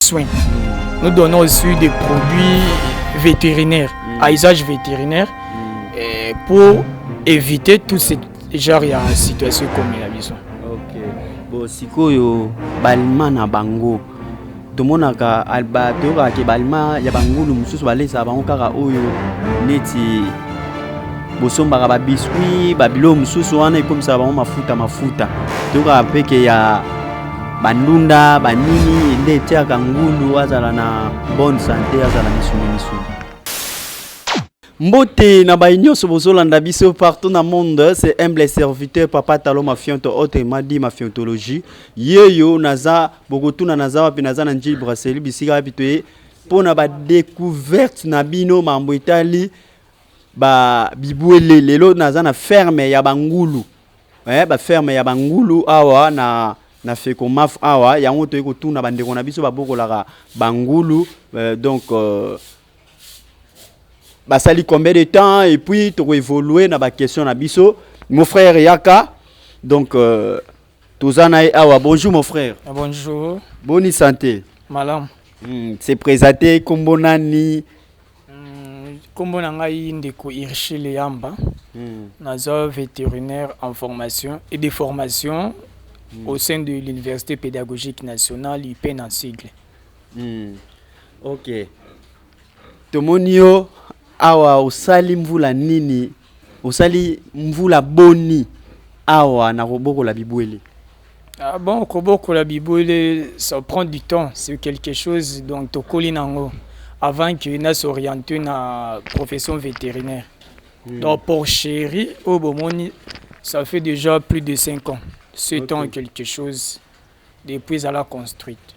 soins. Nous donnons aussi des produits vétérinaires, mm. à usage vétérinaire, mm. euh, pour éviter tout ce genre ya situation ekomi na biso okay. bo sikoyo balima na bango tomonaka toyokaka ke balima ya bangulu mosusu balesaka bango kaka oyo neti bosombaka babiskuit babilo mosusu wana ekomisaka bango mafuta mafuta toyokaka mpeke ya bandunda banini nde etiaka ngulu azala na bonne sante azala misuni misuni mbote na bayi nyonso bozolanda biso partout na monde c'est humble serviteur papa talo mafionto ote madi mafiontologie yeyo naza bokotuna naza wapi naza na njili braseli bisika wapi toye mpo na badecouverte na bino mambo etali ba bibwele lelo naza na ferme ya bangulu eh, ba ferme ya bangulu awa na na fekomaf awa yango toyei kotuna bandeko na biso babokolaka bangulu eh, donc euh, basali combien de temps et puis tokoevolue na baquestion na biso mon frère yaka donc euh, toza na ye awa bonjour mon frère ah, bonjour boni santé malamu hmm, se présente kombo nani Nkombo na ngai ndeko Irshile Yamba, naza veterinaire en formation et de formation au sein de l'université pédagogique nationale UPEN en sigle. Mm. Ok, tomoni yo awa, osali mvula nini Osali mvula boni awa na kobokola bibwele? Ah bon, kobokola bibwele ça prend du temps, c'est quelque chose donc tokoli na yango avant que na s'orienter na profession vétérinaire. Hmm. Donc pour chéri oyo bomoni ça fait déjà plus de 5 ans, 7 okay. ans quelque chose. Depuis ezala construite.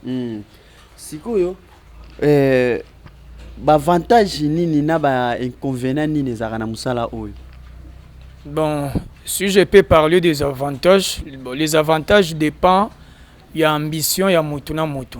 Hmm. Sikoyo eh, bavantage nini na ba inconvénient nini ezalaka na mosala oyo? Bon, si je peux parler des avantages, bon, les avantages dépend ya ambition ya motu na motu.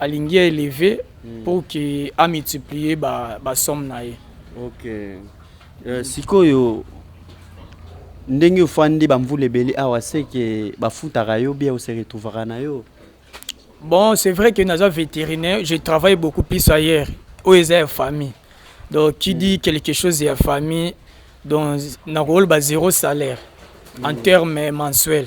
Alingi a eleve pour que a multiplier ba, ba somme na ye. Ok. Euh, sikoyo ndenge ofandi bamvula ebele awa seke bafutaka yo bia ose retrouvaka na yo Bon, c'est vrai que naza vétérinaire, je travaille beaucoup plus ailleurs. Oyo eza ya famille. Donc qui dit quelque chose ya famille, donc nakoloba zéro salaire en termes mensuels.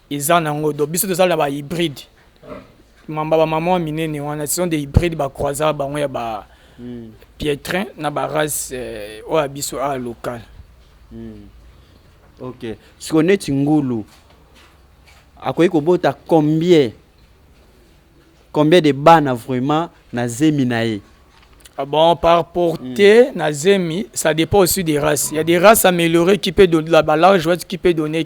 Eza nango donc biso tozala ba hybride mamba ba maman minene wana ce sont des hybrides ba croisa bango ya ba mm. pietrin na ba race euh, oyo biso a local mm. ok siko neti ngulu akoki kobota combien combien de bana vraiment na zemi na ye Ah bon, par portée, mm. Nazemi, ça dépend aussi des races. Il y a des races améliorées qui peuvent donner la balance, qui peut donner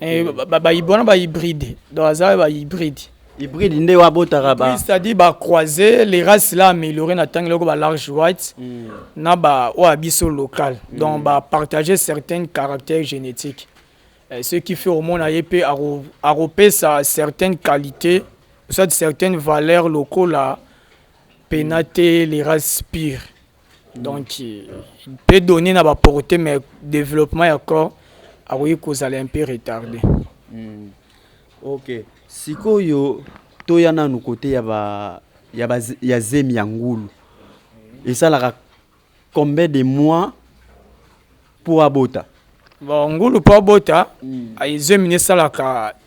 Eh, bayibi wana bahybride donc aza bahybride hybride nde wabotaka ba c'est-à-dire ba croiser les races là amélioré na tangi loko ba large white mm. na ba oyo biso local mm. donc ba partager certaines caractères génétiques eh, ce qui fait omona ye mpe akopesa certaines qualités soit certaines valeurs lokola pena te les races pires Donc peut donner na ba portee mais developpement ya corps akoki kozala un peu retarde. Mm. Okay. Sikoyo toya nanu kote ya ba ya ba ya zemi ya ngulu. Esalaka combien de mois pour abota? Bon ngulu pour abota mm. zemi esalaka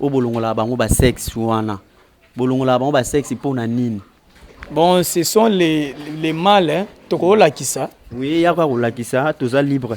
Oyo bolongolaka bango ba sexe wana bolongolaka bango ba sexe pona nini? Bon ce sont les, les mâles hein? tokolakisa oui yako ya kolakisa toza libre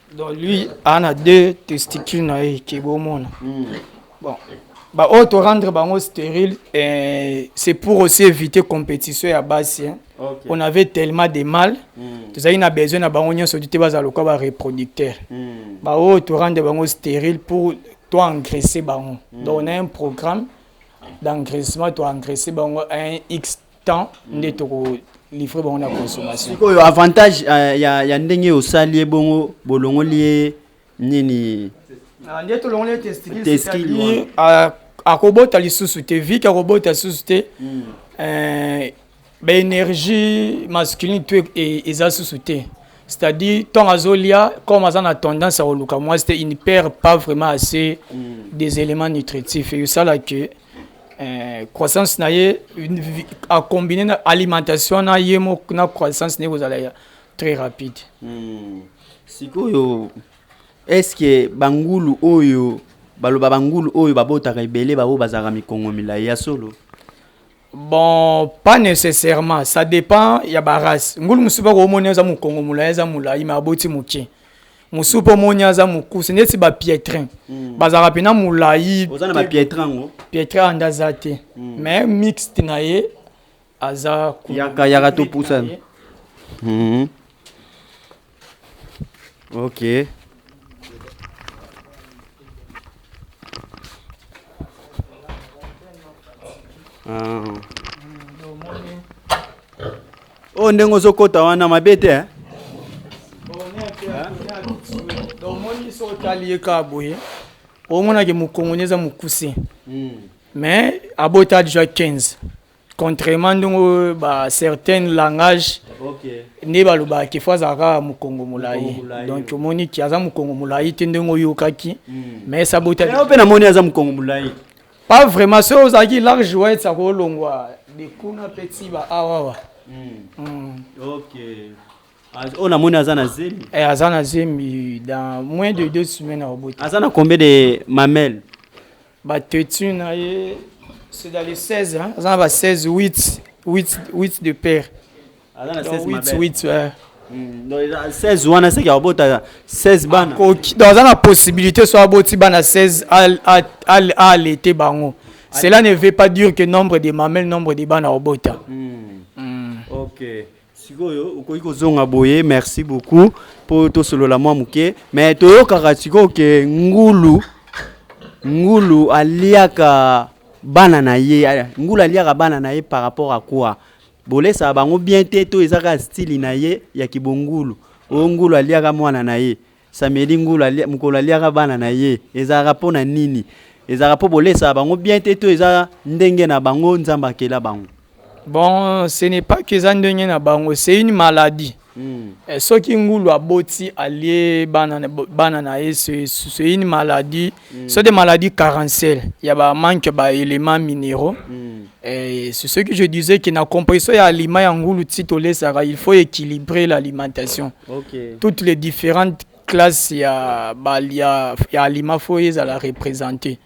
donc lui a na deux testicules na ye ke bomona hmm. bon baoyo torendre bango stérile eh, c'est pour aussi éviter compétition ya basi hein. okay. on avait tellement de mal mm. tozalaki na besoin na bango nyonso te bazala lokola bareproducteur mm. baoyo torendre bango stérile pour toengraisse bango mm. donc on a un programme d'engraissement toengraisse bango un x temps nde toko livre bango na consommation sikoyo avantage uh, ya, ya ndenge osali ye bongo bolongoli ye nini ah, nde tolongoli ye testikili ah, akobota lisusu te vike akobota lisusu te hmm. eh, baénergie masculine to e, eza susu te c'est-à-dire ntango azolia comme aza na tendance ya koluka mwasi te il ne perd pas vraiment assez mm. des éléments nutritifs eyosala que eh, croissance na ye acombine na alimentation na ye moko na croissance na ye kozala ya très rapide hmm. sikoyo est ce que bangulu oyo baloba bangulu oyo babotaka ebele baoyo bazalaka mikongo milai ya solo bon pas nécessairement ça dépend ya barace ngulu mosusu bakoomoni aza mokongo molai aza molai ma aboti moke mosusu mpo omoni aza mokuse neti bapietrin mm. bazalaka mpena molai pietra nde aza te mm. mais mixte na ye aza yakayaka topusana mm-hmm. ok ah. Oh ndenge ozo kota wana mabe te hein. Donc moni so tali ye ka boye. Omona ke mukongoni eza mukuse. Hmm. Mais abota déjà 15. Contrairement ndongo ba certaines langages okay. nde balobaka ke fo azalaka mokongo molai donc omoni ki aza mokongo molai te ndenge oyokaki hmm. mais sabota mpe namoni aza mokongo molai Pas vraiment, soki ozalaki large white akolongwa de kuna mpe tiba awawa. Okay. Az- oyo namoni aza na zemi Eh, aza na zemi dans moins de deux semaines akobota. aza na combien de mamel Bateti na ye c'est dans les 16 hein. aza na ba 16 8 8 8 de paire. aza na 16 mabele 8 eh. hmm, donc 16 wana seki abota 16 bana donc aza na possibilité so aboti bana 16 alete bango cela ne veut pas dire que nombre de mamelles nombre de bana obota hmm. hmm. ok sikoyo okoki kozonga boye merci beaucoup mpo tosolola mwa moke mais toyokaka sikoyo ke ngulu ngulu aliaka bana na ye ngulu aliaka bana na ye par rapport à quoi Bolesa bango bien te to eza kaka style na ye ya kibongulu. O ngulu aliaka mwana na ye. Sameli ngulu alia, mukolo aliaka bana na ye. Ezalaka mpo na nini? Ezalaka mpo bolesa bango bien te to eza ndenge na bango Nzambe akela bango. Bon, ce n'est pas que eza ndenge na bango, c'est une maladie. Eh, soki ngulu aboti alie bana bana na ye c'est c'est une maladie mm. c'est des maladies carencelles ya ba manque ba éléments minéraux mm. eh, c'est ce que je disais que na composition ya aliment ya ngulu ti tolesaka il faut équilibrer l'alimentation okay. toutes les différentes classes ya ba ya, ya aliment faut ezala représenter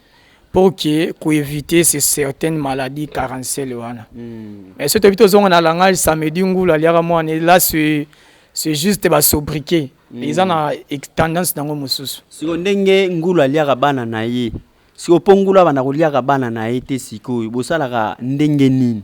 pour que ko éviter ces certaines maladies carencelles wana mm. mais soki toyebi tozonga na langage samedi ngulu aliaka mwana là c'est c'est juste ba sobriquet mm. eza na tendance nango mosusu siko ndenge ngulu aliaka bana na ye siko mpo ngulu abanda koliaka bana na ye te sikoyo bosalaka ndenge nini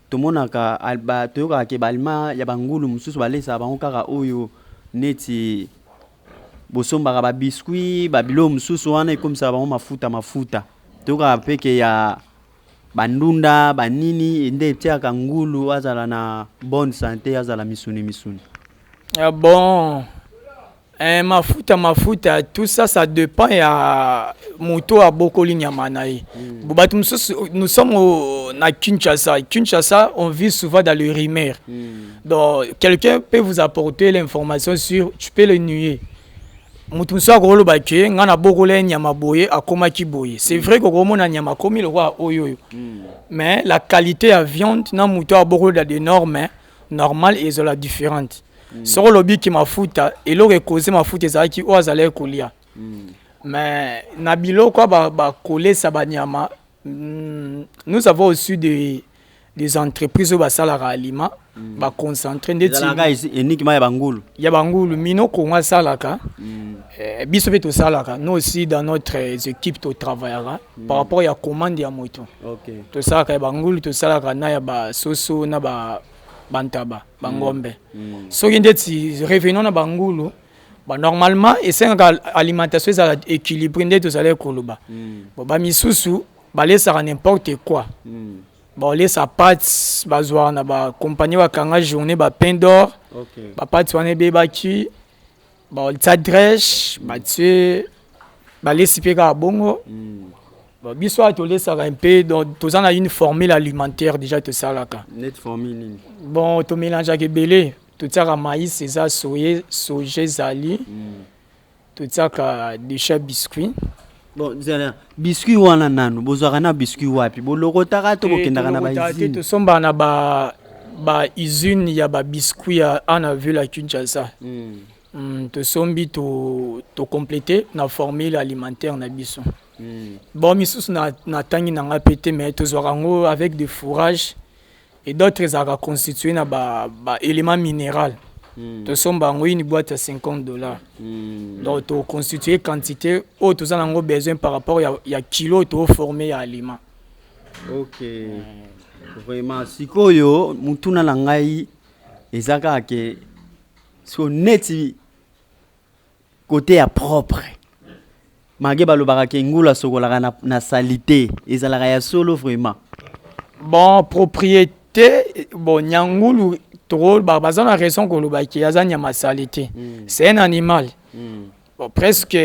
Tomonaka, toyokaka ke ba alima ya ba ngulu mususu balesaka bango kaka oyo neti bosombaka ba biscuits ba biloko mususu wana ekomisaka bango mafuta mafuta toyokaka pe ke ya ba ndunda ba nini nde etiaka ngulu azala na bonne sante azala misuni misuni. Ah bon! Eh, mafuta mafuta tout ça ça dépend ya moto abokoli nyama na ye mm. bato mosusu nous sommes au, na kinshasa kinshasa on vit souvent dans le rumeur mm. donc quelqu'un peut vous apporter l'information sur tu peux le nuer moto mosusu akoloba ke ngai nabokola ye nyama boye akomaki boye c'est vrai kokomona nyama akomi lokola oyo oyo mm. mais la qualité ya viande na moto abokoli da de norme normal ezala differente mm. soko olobi ki mafuta eloko ekoze mafuta ezalaki oyo azalaki kolia mm. mais na biloko bakolesa ba banyama mm, nous avons aussi des, des entreprises oyo basalaka aliment mm. baconcentre ndetiniki ya bangulu ya bangulu mino kongo asalaka mm. eh, biso mpe tosalaka nous aussi dans notre équipe totravaillaka par rapport ya commande ya moto okay. tosalaka ya bangulu tosalaka na ya basoso na ba bantaba bangombe mm. mm. soki ndeti revenant na bangulu ba normalement esengaka alimentation ezala équilibré nde tozalaki koloba mm. bon bamisusu balesaka n'importe quoi mm. balesa pati bazwaka na bacompagnie bakanga journée bapain d'or okay. bapati wana ebebaki baolisa dresh batie balesi mpe kaka bongo mm. bon, biso awa tolesaka mpe donc toza na une formule alimentaire déjà tosalaka net formule nini bon tomélangeaka ebele totiaka maïs eza soye soja ezali mm. totiaka decha biscuit Bon, zela, biscuit wana nanu, bozwaka na biscuit wapi? Bolokotaka to bokendaka na ba Tolokota te, usine? tosombaka na ba ba usine ya ba biscuit ya ana ville ya Kinshasa. Hmm. Mm, tosombi to to complete na formule alimentaire na biso. Hmm. Bon misusu na natangi na ngai mpe te mais tozwaka yango avec des fourrages et d'autres ezalaka constitue na ba, ba element mineral mm. tosomba yango une boîte ya 50 dollars mm. donc toconstitue quantité oyo toza nango besoin par rapport ya, ya kilo oyo tooforme ya aliment ok mm. vraiment sikoyo motuna na ngai eza kaka ke so neti Cote ya propre mage balobaka ke ngulu asokolaka na, na salite ezalaka ya solo vraiment bon propriété bon nyangulu tokolobaka baza na raison koloba ke aza nyama sali te mm. c'est un animal mm. bon, presque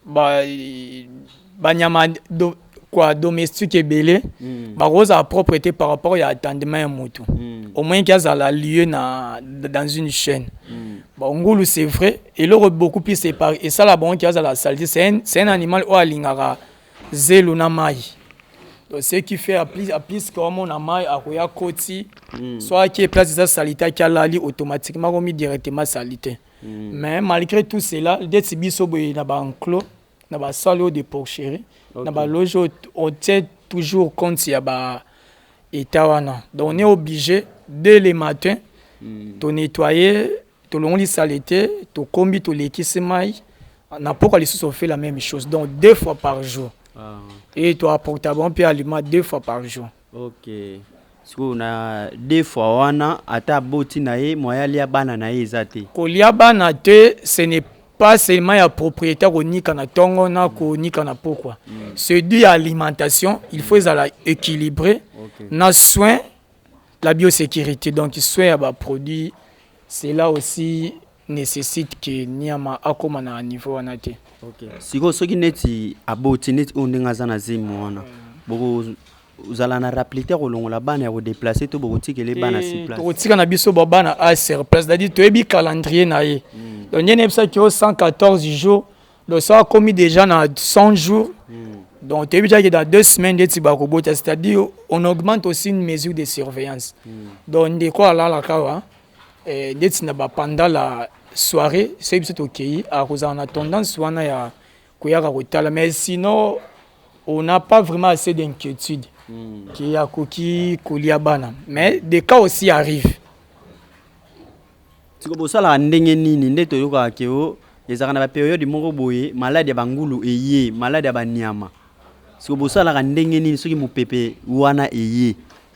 ba, banyama do, kwa domestique ebele mm. bakozala propre te par rapport ya attendement ya motu mm. au moins kiazala lieu na dans une chaîne mm. bon ngulu c'est vrai eloko beaucoup plus esala bango kiazala salite c'est un, un animal oyo alingaka zelo na mai donc ce qui fait à plus, à plus komona mai akoya koti mm. soit ake place eza salite ake alali automatiquement komi directement salite mm. mais malgré tout cela ndeti biso boye na banclos na ba salle oyo de porcherie okay. na ba loge oyo on tient toujours compte ya ba état wana donc on est obligé dès le matin mm. to nettoyer tolongoli salete tokombi tolekisi mai na mpoka lisusu on fait la même chose donc deux fois par jour ah. et toapporta bango mpe aliment deux fois par jour Ok sikoyo na deux fois wana ata aboti na ye moyen alia bana na ye eza te? Kolia bana te ce n'est pas seulement ya propriete ya konika na tongo na konika na pokwa c'est du ya alimentation il faut ezala equilibre na soin la biosecurite donc soin ya ba produits cela aussi necessite que niama akoma na niveau wana te. Okay. Siko soki neti aboti neti oyo ndenge aza na zemi wana boko ozala na raplite kolongola bana ya kodeplace to bokotikele bana sur place tokotika na biso ba bana a sur place c'est-à-dire toyebi calendrier na ye hmm. donc ndenge nayebisaki yo 114 jours donc so akomi déjà na 100 jours hmm. donc toyebi déjà ke dans deux semaines ndeti bakobota c'est-à-dire on augmente aussi une mesure de surveillance hmm. donc ndeko alalaka wa eh, ndeti na ba pendant la soirée soki biso tokeyi akozala na tendance wana ya koyaka kotala mais sinon on n'a pas vraiment assez d'inquiétude mm. ki akoki kolia bana mais des cas aussi arrive siko bosalaka ndenge nini nde toyokaka ke o ezalaka na baperiode moko boye maladi ya bangulu eye maladi ya banyama siko bosalaka ndenge nini soki mopepe wana eye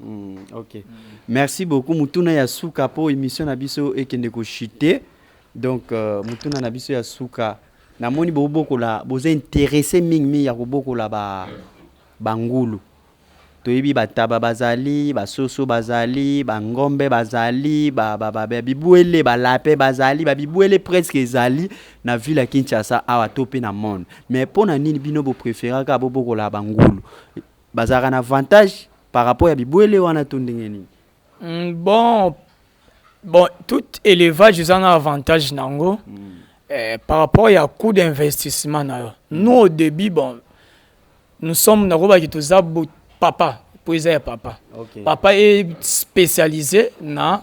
Hmm, ok. Merci beaucoup. Mutuna ya suka po emission na biso ekende ko chuter. Donc euh, mutuna na biso ya suka. Na moni bo bokola, boza intéressé mingi mingi ya ko bokola ba bangulu. Toyebi bataba bazali, basoso bazali, bangombe bazali, ba ba ba ba- bibwele, balape bazali, ba bibwele presque ezali na ville ya Kinshasa awa to pe na monde. Mais pona nini bino bo preferaka bo bokola bangulu? Bazalaka na avantage par rapport ya bibwele wana to ndenge nini? Mm, bon bon tout élevage eza na avantage na yango mm. eh, par rapport ya coût d'investissement na yo mm. nous au début bon nous sommes nakobaki toza papa mpo eza ya papa okay. papa est spécialisé na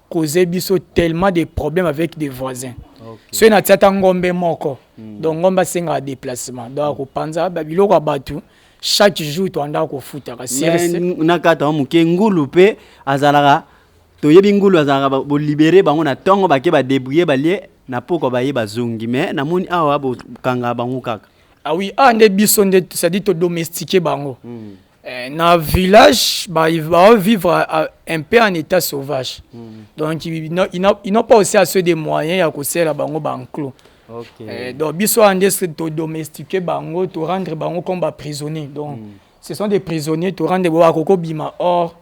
cause biso tellement des problèmes avec des voisins okay. soki natia ata ngombe moko mm. donc ngombe asengaka déplacement donc akopanza biloko ya bato chaque jour toandaka kofutaka nakata wa moke ngulu mpe azalaka toyebi ngulu azalaka bolibere bango na ntongo bake badebrouille balie na pokwa baye bazongi mais namoni awa bokanga bango kaka awi ah awa ah, nde biso nde cestadire todomestike bango mm. Eh, na village ba va vivre euh, un peu en état sauvage mm. donc ils n'ont pas aussi assez de moyens ya kosela bango banclos okay. eh, donc biso wana nde todomestique bango torendre bango comme baprisonnier donc mm. ce sont des prisonniers torendre bo bakoki kobima or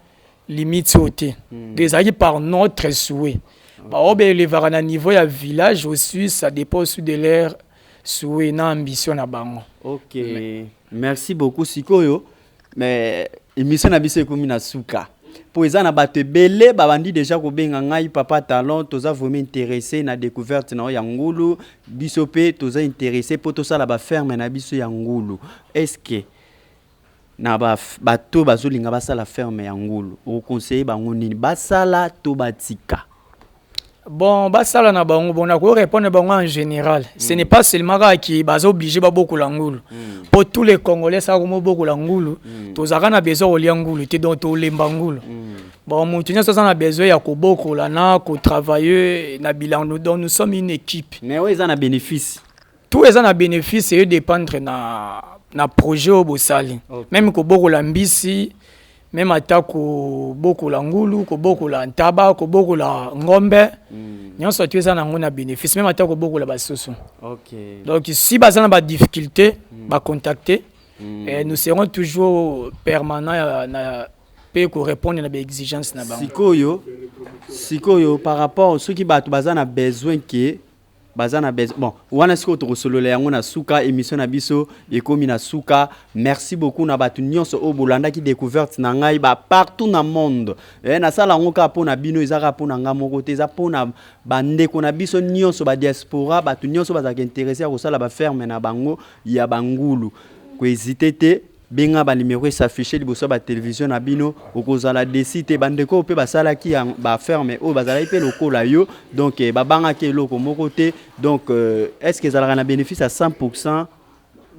limite oyo te mm. donc ezalaki par notre souhait baoyo baelevaka na niveau ya village aussi ça dépend aussi de leur souhait na ambition na bango. Ok, merci beaucoup. Sikoyo, mais emission na biso ekomi na suka. mpo eza na bato ebele babandi deja kobenga ngai papa talon toza vraiment interesse na découverte na yo ya ngulu biso mpe toza interesse mpo tosala baferme na biso ya ngulu estce Na ba bato oyo bazo linga basala ferme ya ngulu oko conseille bango nini basala to batika? Bon basala na bango bon nako répondre bango en général mm. ce n'est pas seulement kaka ki baza obligé babokola ngulu mm. po tous les congolais saka komo bokola ngulu mm. tozalaka na besoin kolia ngulu te donc tolemba ngulu mm. bon moto nyonso aza na besoin ya kobokola na kotravaille na bilan donc nous sommes une équipe mais oyo eza na bénéfice tout eza na bénéfice eo dépendre na na projet oyo bosali okay. meme kobokola mbisi meme ata kobokola ngulu kobokola ntaba kobokola ngombe mm. nyonso atu eza na yango na bénéfice meme ata kobokola basusu okay. donc si baza na badifficulté mm. bacontacte mm. eh, nous serons toujours permanent ya, na mpe korépondre na baexigence na bango sikoyo sikoyo par rapport soki bato baza na besoin ke baza na besoin bon wana sikoyo tokosolola yango na suka emission na biso ekomi na suka merci beaucoup na bato nyonso oyo bolandaki découverte na ngai ba partout na monde eh, nasala yango kaka mpo na bino eza kaka mpo na ngai moko te eza mpo na bandeko na biso nyonso badiaspora bato nyonso bazalaka interesse ya kosala baferme na bango ya bangulu koezite te Benga ba numero e s'afficher liboso ya ba television na bino, okozala deçu te. Ba ndeko oyo pe basalaki ba affaires mais oyo bazalaki pe lokola yo donc babangaki eloko moko te donc est ce que ezalaka na benefice ya 100 pourcent?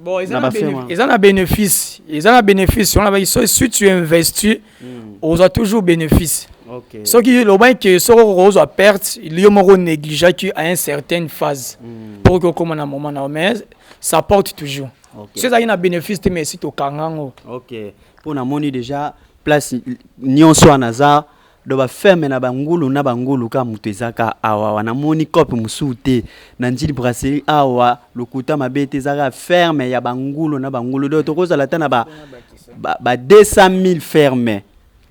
Bon, eza na benefice, eza na benefice, eza na benefice. On a so si tu investis, mm. oza toujours benefice. Okay. Soki loba que soko okozwa perte, liyo moko négligeaki à une certaine phase mm. pour que okoma na moment na mais ça porte toujours. okay. soki ezalaki na bénéfice te mais esi tokanga yango okay. mpo namoni déjà place nyonso wana aza do bafeme na bangulu na bangulu ka moto ezaka awawa namoni cope mosusu te na njili brasserie awa lokuta mabe te ezaka ferme ya bangulu na bangulu do tokozala ata na ba, ba, ba 200 000 ferme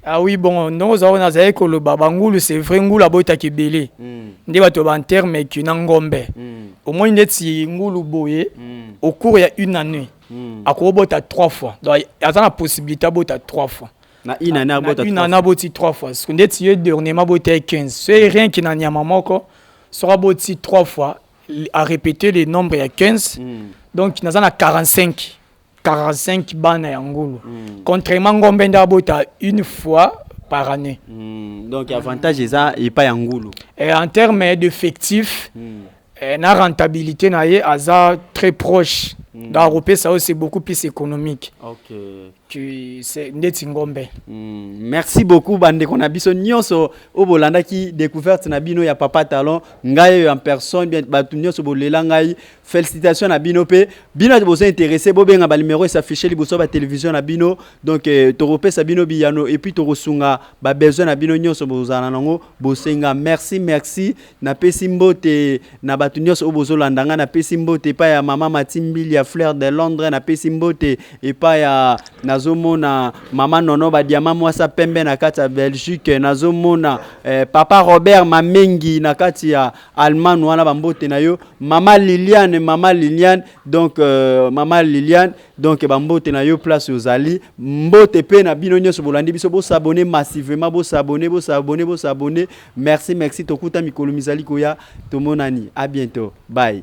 Ah oui, bon, non, ça, on a zaï koloba, bangulu, c'est vrai, ngulu abota kibele. Hmm. Nde bato ba terme mais qui n'angombe. Hmm. Au moins, ndeti ngulu boye, hmm. au cours il y a une année, akobota trois fois. Donc, il y a la possibilité d'abota trois fois. Na une année abota une année aboti trois fois. Ce qu'on dit, c'est dernièrement abota 15. C'est rien qui n'a nyama moko, sera aboti trois fois, à répéter les nombres, il y a 15. Donc, il y a 45. 45 bana ya ngulu mm. contrairement ngombe nda abota une fois par année mm. donc avantage eza epa ya ngulu eh, en terme d'effectif mm. eh, na rentabilité na ye aza très proche mm. donc akopesa yo c'est beaucoup plus économique okay. tu c'est ndeti ngombe mm. merci beaucoup bandeko na biso nyonso oyo bolandaki découverte na bino ya papa talon ngai oyo en personne bien bato nyonso bolela ngai Félicitations na bino pe bino ati bozo intéressé bo benga ba numéro est affiché liboso ba télévision na bino donc euh, toko pesa bino biyano et puis toko sunga ba besoin na bino nyonso bozala nango bosenga merci merci na pesi mbote na bato nyonso oyo bozo landa nga na pesi mbote pa ya mama matimbili ya fleur de Londres na pesi mbote et pa ya nazo mona mama nono ba diamant mwasa pembe na kati ya Belgique nazo mona eh, papa Robert Mamengi na kati ya Allemagne wana ba mbote na yo mama Liliane mama Liliane donc euh, mama Liliane donc ba mbote na yo place ozali mbote pe na bino nyonso bolandi biso bo s'abonner massivement bo s'abonner bo s'abonner bo s'abonner merci merci tokuta mikolo mizali koya tomonani à bientôt bye